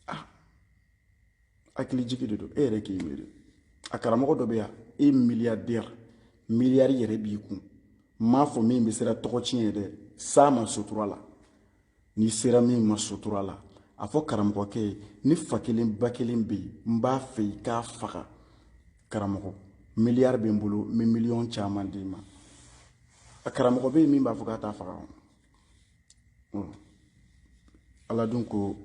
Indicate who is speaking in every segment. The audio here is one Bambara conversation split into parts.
Speaker 1: ah hakili jigi de don e yɛrɛ k'i miiri a karamɔgɔ dɔ bɛ yan e miliyardɛri miliyari yɛrɛ b'i kun m'a fɔ min bɛ siran tɔgɔ tiɲɛ ye dɛ s'a ma sutura la n'i sera min ma sutura la a fɔ karamɔgɔkɛ ye ne fa kelen ba kelen bɛ yen n b'a fɛ i k'a faga karamɔgɔ miliyari bɛ n bolo n bɛ miliyɔn caman d'i ma a karamɔgɔ bɛ yen min b'a fɔ k'a t'a faga ala dun ko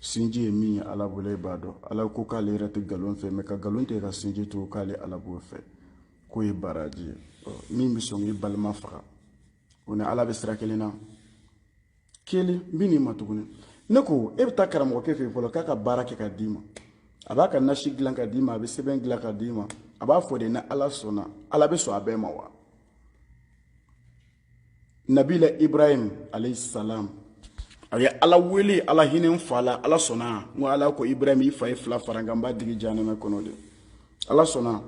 Speaker 1: sinji ye min ye ala bolo e b'a dɔn ala ko k'ale yɛrɛ tɛ nkalon fɛ mɛ ka nkalon tigɛ ka sinji to k'ale ala b'o fɛ k'o ye baraji ye min bɛ sɔn k'i balima faga o ni ala bɛ sira kelen na kelen n bɛ n'i ma tuguni ne ko e bɛ taa karamɔgɔkɛ fɛ yen fɔlɔ k'a ka baara kɛ ka d'i ma a b'a ka nasi dilan ka d'i ma a bɛ sɛbɛn dilan ka d'i ma a b'a fɔ de ni ala sɔnna ala bɛ sɔn a bɛɛ ma wa nabila ibrahim alayhi salam a ye ala wele ala hinɛ n fa la ala sɔnna n ko ala ko ibrahim i fa ye fila fara n kan n b'a digi janɛmɛ kɔnɔ de ala sɔnna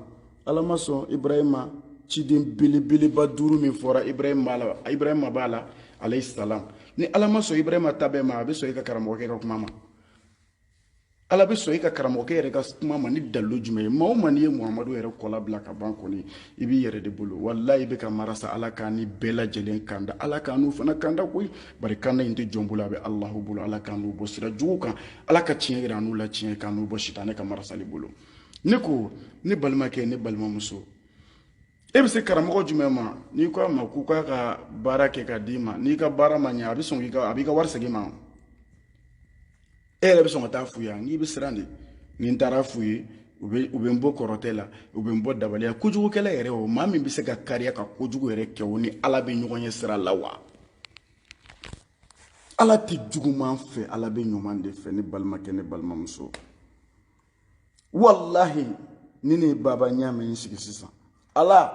Speaker 1: ala ma sɔn ibrahim ma ciden belebeleba duuru min fɔra ibrahim b'a la ibrahima b'a la alayhi salam ni ala ma sɔn ibrahim ta bɛɛ ma a bɛ sɔn i ka karamɔgɔkɛ ka kuma ma ala bɛ sɔn i ka karamɔgɔkɛ yɛrɛ ka kuma ma ni dalilu jumɛn ye maa o maa n'i ye muhamadu yɛrɛ kɔla bila ka ban kɔni i b'i yɛrɛ de bolo walayi i bɛ ka marasa ala k'an ni bɛɛ lajɛlen kanda ala k'anw fana kanda koyi bari kanda in tɛ jɔn bolo a bɛ alahu bolo ala k'anw bɔ sira jugu kan ala ka tiɲɛ yira anw la tiɲɛ k'anw bɔ sitanɛ ka marasali bolo ne ko ne balimakɛ ne balimamuso e bɛ se karamɔgɔ jumɛn ma n'i ko a ma k'u k'a ka baara kɛ ka d'i ma n'i ka baara ma ɲɛ a bɛ sɔn k'i ka a b'i ka wari segin i ma e yɛrɛ bɛ sɔn ka taa f'u ye n'i bɛ siran de ni n taara f'u ye u bɛ u bɛ n bon kɔrɔtɛ la u bɛ n bɔ dabaliya kojugukɛla yɛrɛ o maa min bɛ se ka kariya ka kojugu yɛrɛ kɛ o ni ala bɛ ɲɔgɔn ye sira la wa ala tɛ juguman fɛ ala bɛ ɲuman de fɛ ne balimakɛ ne balimamuso walahi ni ne baba ɲaamɛ n sigi sisan ala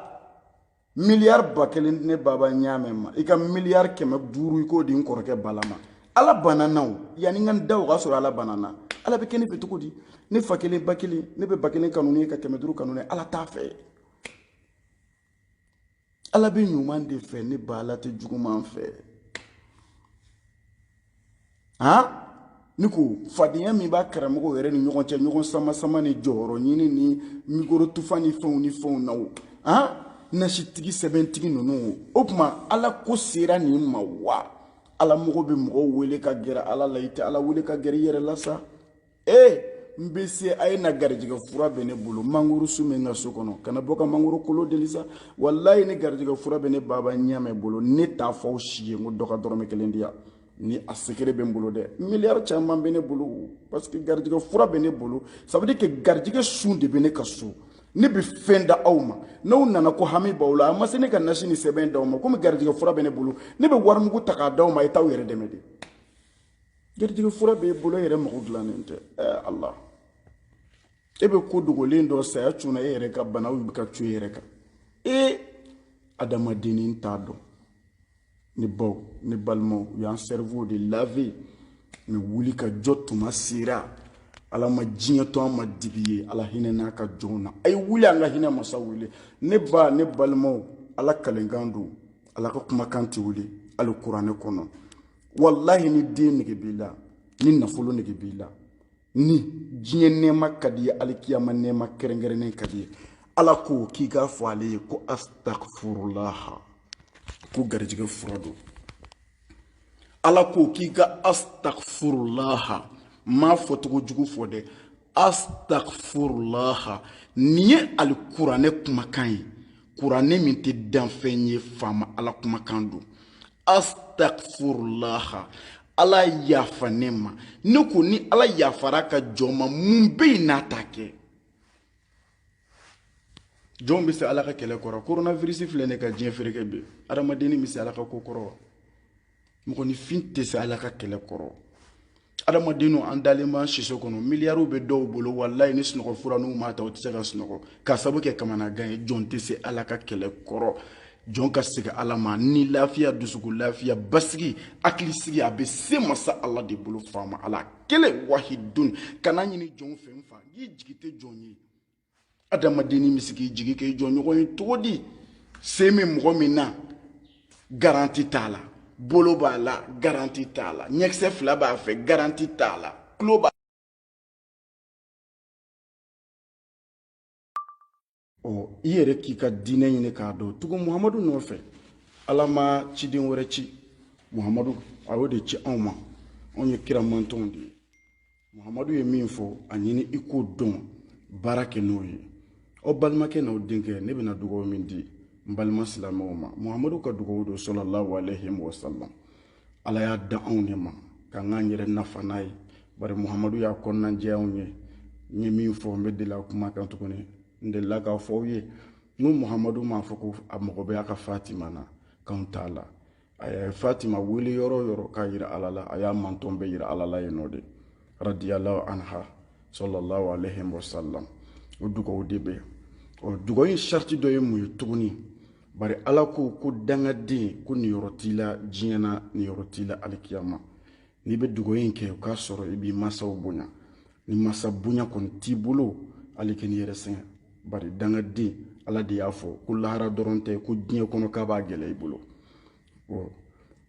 Speaker 1: miliyari ba kelen ne baba ɲaamɛ ma i ka miliyari kɛmɛ duuru i k'o di n kɔrɔkɛ bala ma ala banna n na o yanni n ka n da o k'a sɔrɔ ala banna n na ala bɛ kɛ ne fɛ cogo di ne fa kelen ba kelen ne bɛ ba kelen kanu ne ye ka kɛmɛ duuru kanu ne ala t'a fɛ ala bɛ ɲuman de fɛ ne ba ala tɛ juguman fɛ han ne ko fadenya min b'a karamɔgɔw yɛrɛ ni ɲɔgɔn cɛ ɲɔgɔn samasama ni jɔyɔrɔ ɲini ni mikoro tufa ni fɛnw ni fɛnw na o han nasitigi sɛbɛntigi ninnu o o tuma ala ko sera nin ma wa ala mɔgɔ bɛ mɔgɔw wele ka gɛrɛ ala la i tɛ ala wele ka gɛrɛ i yɛrɛ la sa ee n bɛ se a ye na garijɛgɛ fura bɛ ne bolo mangoro sun bɛ n ka so kɔnɔ kana bɔ ka mangoro kolo deli sa walayi ni garijɛgɛ fura bɛ ne baba ɲɛmɛ bolo ne t'a fɔ aw si ye n ko dɔ ka dɔrɔmɛ kelen di yan ni a secret bɛ n bolo dɛ miliyari caman bɛ ne bolo parce que garijɛgɛ fura bɛ ne bolo ça veut dire que garijɛgɛ sun de bɛ ne ka so ne bɛ fɛn da aw ma n'aw nana ko hami b'aw la a ma se ne ka nasi ni sɛbɛn d'aw ma komi garijɛgɛ fura bɛ ne bolo ne bɛ warimugu ta k'a d'aw ma a ye t'aw yɛrɛ dɛmɛ de garijɛgɛ fura b'e bolo e yɛrɛ mago dilannen tɛ ɛɛ ala e bɛ ko dogolen dɔn saya cunna e yɛrɛ kan banaw bɛ ka cun e yɛrɛ kan e adamadennin t'a dɔn ne baw ne balimaw u y'an cerveau de laver mais wuli ka jɔ tuma sera ala ma diɲɛ to an ma dibi ye ala hinɛn'a ka jɔnw na a ye wuli an ka hinɛ masa wele ne ba ne balimaw ala kalenkan don ala ka kumakan tɛ wuli alikuranɛ kɔnɔ walahi ni den nege b'i la ni nafolo nege b'i la ni diɲɛ nɛɛma ka d'i ye alikiyama nɛɛma kɛrɛnkɛrɛnnen ka d'i ye ala ko k'i k'a fɔ ale ye ko astagfurulaha ko garijɛgɛ fura don ala ko k'i ka astagfurulaha n m'a fɔcogo jugu fɔ dɛ astagfurulaha nin ye alikuranɛ kumakan ye kuranɛ min tɛ danfɛn ye faama ala kumakan don astagfurulaha ala yafa ne ma ne ko ni ala yafara ka jɔn ma mun bɛ yen n'a t'a kɛ jɔn bɛ se ala ka kɛlɛ kɔrɔ coronavirus filɛ nin ka diɲɛ fereke bi adamadennin bɛ se ala ka ko kɔrɔ wa mɔgɔninfin tɛ se ala ka kɛlɛ kɔrɔ adamadenninw an dalen b'an siso kɔnɔ miliyariw bɛ dɔw bolo walayi ni sunɔgɔ fura n'u m'a ta u tɛ se ka sunɔgɔ k'a sabu kɛ kamanagan ye jɔn tɛ se ala ka kɛlɛ kɔrɔ jɔn ka segin ala ma ni lafiya dusukun lafiya basigi hakilisigi a bɛ se masa ala de bolo faama ala kelen wahidun kan'a ɲini jɔn fɛ n fa i jigi tɛ jɔn ye adamadennin bɛ se k'i jigi k'i jɔnɲɔgɔn ye cogo di sen bɛ mɔgɔ min na garanti t'a la bolo b'a la garanti t'a la ɲɛkisɛ fila b'a fɛ garanti t'a la tulo b'a ɔ i yɛrɛ k'i ka diinɛ ɲini k'a dɔn tugu muhamadu nɔfɛ ala ma ciden wɛrɛ ci muhamadu a y'o de ci anw ma anw ye kira mantɔnw de ye muhamadu ye min fɔ a ɲini i k'o dɔn baara kɛ n'o ye aw balimakɛ n'aw denkɛ ne bɛna dugawu min di n balima silamɛw ma muhamadu ka dugawu don salalahu aleyhi wasalam ala y'a d'anw de ma k'an k'an yɛrɛ nafa n'a ye bari muhamadu y'a kɔnɔna jɛ anw ye n ye min fɔ n bɛ deli a kuma kan tuguni n delila k'a fɔ aw ye n ko muhamadu m'a fɔ ko a mago bɛ a ka fatima na k'anw t'a la a ye fatima wele yɔrɔ o yɔrɔ k'a yira ala la a y'a mantɔn bɛɛ yira ala la yen nɔ de radiyallahu anha sallallahu alayhi wa sallam o dugawu de bɛ ɔ dugawu in sariti dɔ ye mun ye tuguni bari ala ko ko dangaden ko niyɔrɔ t'i la diɲɛ na niyɔrɔ t'i la alikiyama n'i bɛ dugawu in kɛ o k'a sɔrɔ i b'i mansaw bonya ni mansa bonya kɔni t'i bolo hali kan'i yɛrɛ sɛgɛn bari dangaden ala de y'a fɔ ko lahara dɔrɔn tɛ ko diɲɛ kɔnɔ k'a b'a gɛlɛya i bolo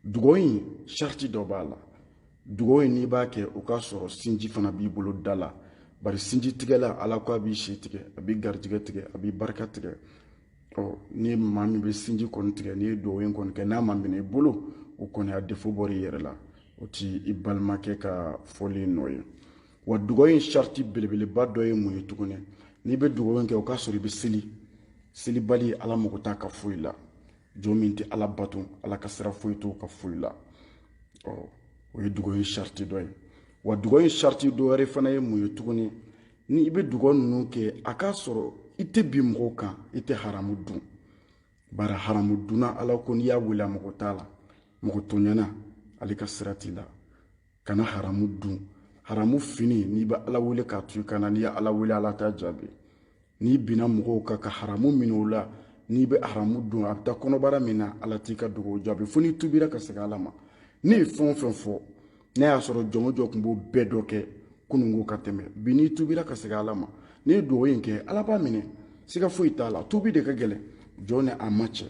Speaker 1: dugawu in sariti dɔ b'a la dugawu in n'i b'a kɛ o k'a sɔrɔ sinji fana b'i bolo da la bari sinji tigɛla ala ko a b'i si tigɛ a b'i garijɛgɛ tigɛ a b'i barika tigɛ ɔ ni maa min bɛ sinji kɔni tigɛ n'i ye dugawu in kɔni kɛ n'a ma minɛ i bolo o kɔni a defo bɔr'i yɛrɛ la o t'i balimakɛ ka fɔli nɔ ye wa dugawu in sariti belebeleba dɔ ye mun ye tuguni n'i bɛ dugawu in kɛ o k'a sɔrɔ i bɛ seli selibali ala mago t'a ka foyi la jɔn min tɛ ala bato ala ka sira foyi t'o ka foyi la ɔ o ye dugawu in sariti dɔ ye wa dugawu in sariti dɔ wɛrɛ fana ye mun ye tuguni ni i bɛ dugawu ninnu kɛ a k'a sɔrɔ i tɛ bin mɔgɔw kan i tɛ haramu dun bari haramu dunna ala ko n'i y'a wele a mago t'a la mɔgɔ tɔɲɛna ale ka sira t'i la kana haramu dun haramu fini n'i bɛ ala wele k'a to i kan na n'i ye ala wele ala t'a jaabi n'i binna mɔgɔw kan ka haramu minɛ o la n'i bɛ haramu dun a bɛ taa kɔnɔbara min na ala t'i ka dugawu jaabi fo n'i tubira ka segin ala ma ne ye fɛn o fɛn fɔ n'a y'a sɔrɔ jɔn o jɔn tun b'o bɛɛ dɔ kɛ kununko ka tɛmɛ bi n'i tubira ka segin ala ma n'i ye dugawu in kɛ ala b'a minɛ siga foyi t'a la tubi de ka gɛlɛn jɔn ni a ma cɛ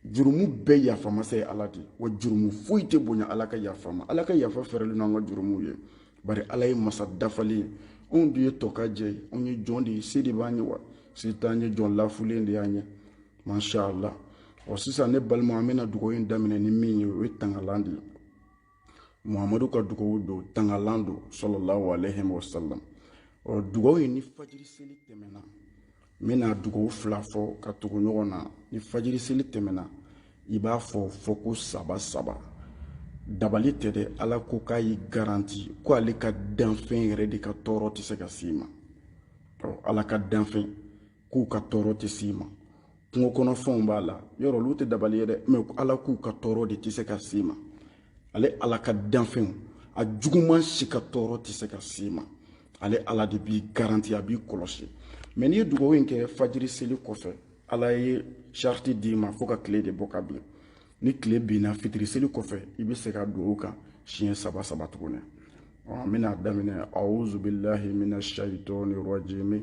Speaker 1: jurumu bɛɛ yafa masa ye ala de wa jurumu foyi tɛ bonya ala ka yafa ma ala ka yafa fɛrɛlen n'an ka jurumuw ye bari ala ye masa dafalen ye anw de ye tɔkajɛ ye anw ye jɔn de ye se de b'an ye wa se t'an ye jɔn lafulen de y'an ye masha allah ɔ sisan ne balima an bɛna dugawu in daminɛ nin min ye o ye tangalan de ye muhamadu ka dugawu don tangalan don sallallahu alayhi wa sallam ɔ dugawu in ni fajiri seli tɛmɛna n bɛna dugawu fila fɔ ka tugu ɲɔgɔn na ni fajiri seli tɛmɛna i b'a fɔ fɔko saba saba dabali tɛ dɛ ala ko k'a y'i garanti ko ale ka danfɛn yɛrɛ de ka tɔɔrɔ tɛ se ka s'i ma ɔ ala ka danfɛn k'u ka tɔɔrɔ tɛ s'i ma kungo kɔnɔfɛnw b'a la yɔrɔ olu tɛ dabali ye dɛ mɛ ala k'u ka tɔɔrɔ de tɛ se ka s'i ma ale ala ka danfɛnw a juguman si ka tɔɔrɔ tɛ se ka s'i ma ale ala de b'i garanti a b'i kɔlɔsi mɛ n'i ye dugawu in kɛ fajiri seli kɔfɛ ala ye sariti d'i ma fo ka tile de bɔ ka bin ni tile binna fitiri seli kɔfɛ i bɛ segin dugawu kan siɲɛ saba saba tuguni an bɛna daminɛ awuzubilahi mina shayitɔni rɔjimi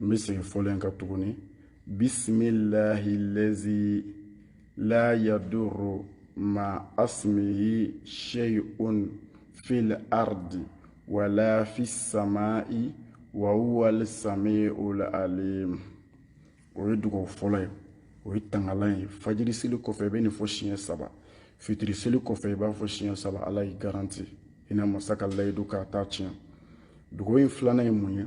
Speaker 1: n bɛ segin fɔlen kan tuguni bisimilahi lazi la yaduru ma asimihi sheyun fil ardi wala fi samai wa huwal samiul alim o ye dugawu fɔlɔ ye o ye tangalan ye fajiri seli kɔfɛ i bɛ nin fɔ siɲɛ saba fitiri seli kɔfɛ i b'a fɔ siɲɛ saba ala y'i garanti hinɛ masa ka layidu k'a t'a tiɲɛ dugawu in filanan ye mun ye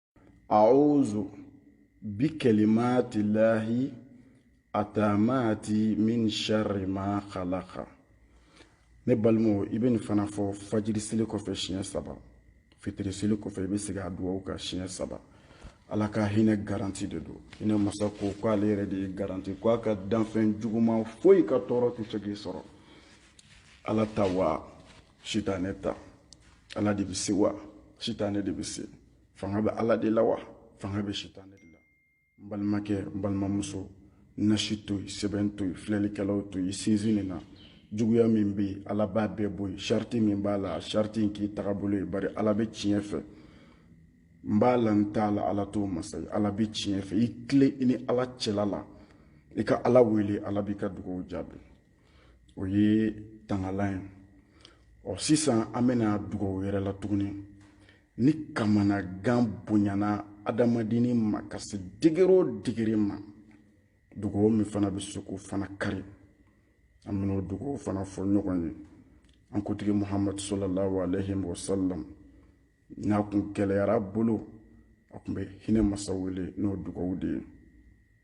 Speaker 1: a'udhu bi kalimati llahi atamati min sharri ma khalaqa ne balimaw i bɛ nin fana fɔ fajiri seli kɔfɛ siɲɛ saba fitiri seli kɔfɛ i bɛ segin a dugawu kan siɲɛ saba ala ka hinɛ garanti de don hinɛ masa ko k'ale yɛrɛ de ye garanti ko a ka danfɛn juguman foyi ka tɔɔrɔ tɛ se k'i sɔrɔ ala ta wa sitanɛ ta ala de bɛ se wa sitanɛ de bɛ se fanga bɛ ala de la wa fanga bɛ sitanɛ de la n balimakɛ n balimamuso nasi to yen sɛbɛn to yen filɛlikɛlaw to yen sinsin nin na juguya min bɛ yen ala b'a bɛɛ bɔ yen sariti min b'a la sariti in k'i tagabolo ye bari ala bɛ tiɲɛ fɛ n b'a la n t'a la ala t'o masa ye ala bɛ tiɲɛ fɛ i tilen i ni ala cɛla la i ka ala wele ala b'i ka dugaw jaabi o ye tangalan ye ɔ sisan an bɛ na dugaw wɛrɛ la tuguni ni kamanagan bonyana adamadenni ma ka se degere o degere ma dugaw min fana bɛ se k'o fana kari an bɛn'o dugaw fana fɔ ɲɔgɔn ye an kuntigi muhamadu sallallahu aleyhi wa sallam n'a kun gɛlɛyara a bolo a kun bɛ hinɛ masa wele n'o dugaw de ye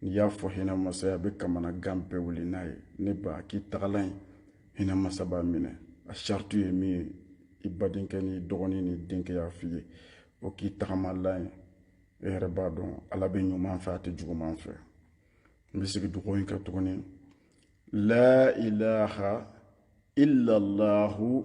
Speaker 1: n'i y'a fɔ hinɛ masa ye a bɛ kamanagan bɛɛ wuli n'a ye nin ba k'i tagalan ye hinɛ masa b'a minɛ a sariti ye min ye i badenkɛ ni dɔgɔnin ni denkɛ y'a f'i ye o k'i tagamalan ye e yɛrɛ b'a dɔn ala bɛ ɲuman fɛ a tɛ juguman fɛ n bɛ segin dugawu in kan tuguni la ilaha illallahu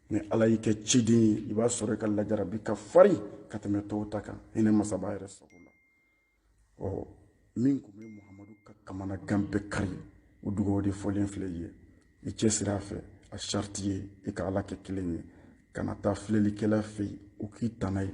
Speaker 1: ni ala y'i kɛ ciden ye i b'a sɔrɔ i ka lajarabi ka farin ka tɛmɛ tɔw ta kan hinɛ masa b'a yɛrɛ sago la ɔ min kun bɛ muhamadu ka kamanagan bɛɛ kari o dugawu de fɔlen filɛ i ye i cɛsiri a fɛ a sariti ye i ka ala kɛ kelen ye kana taa filɛlikɛla fɛ yen o k'i tana ye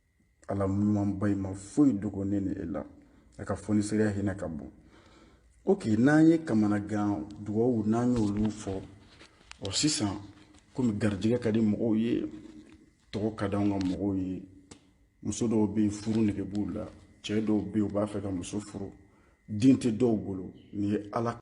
Speaker 1: ala ɲumanba in ma foyi dogo ne ni e la a ka fonisereya hinɛ ka bon ok n'an ye kamanagan dugawu n'an y'olu fɔ ɔ sisan komi garijɛgɛ ka di mɔgɔw ye tɔgɔ ka di anw ka mɔgɔw ye muso dɔw bɛ yen furu nege b'u la cɛ dɔw bɛ yen u b'a fɛ ka muso furu den tɛ dɔw bolo nin ye ala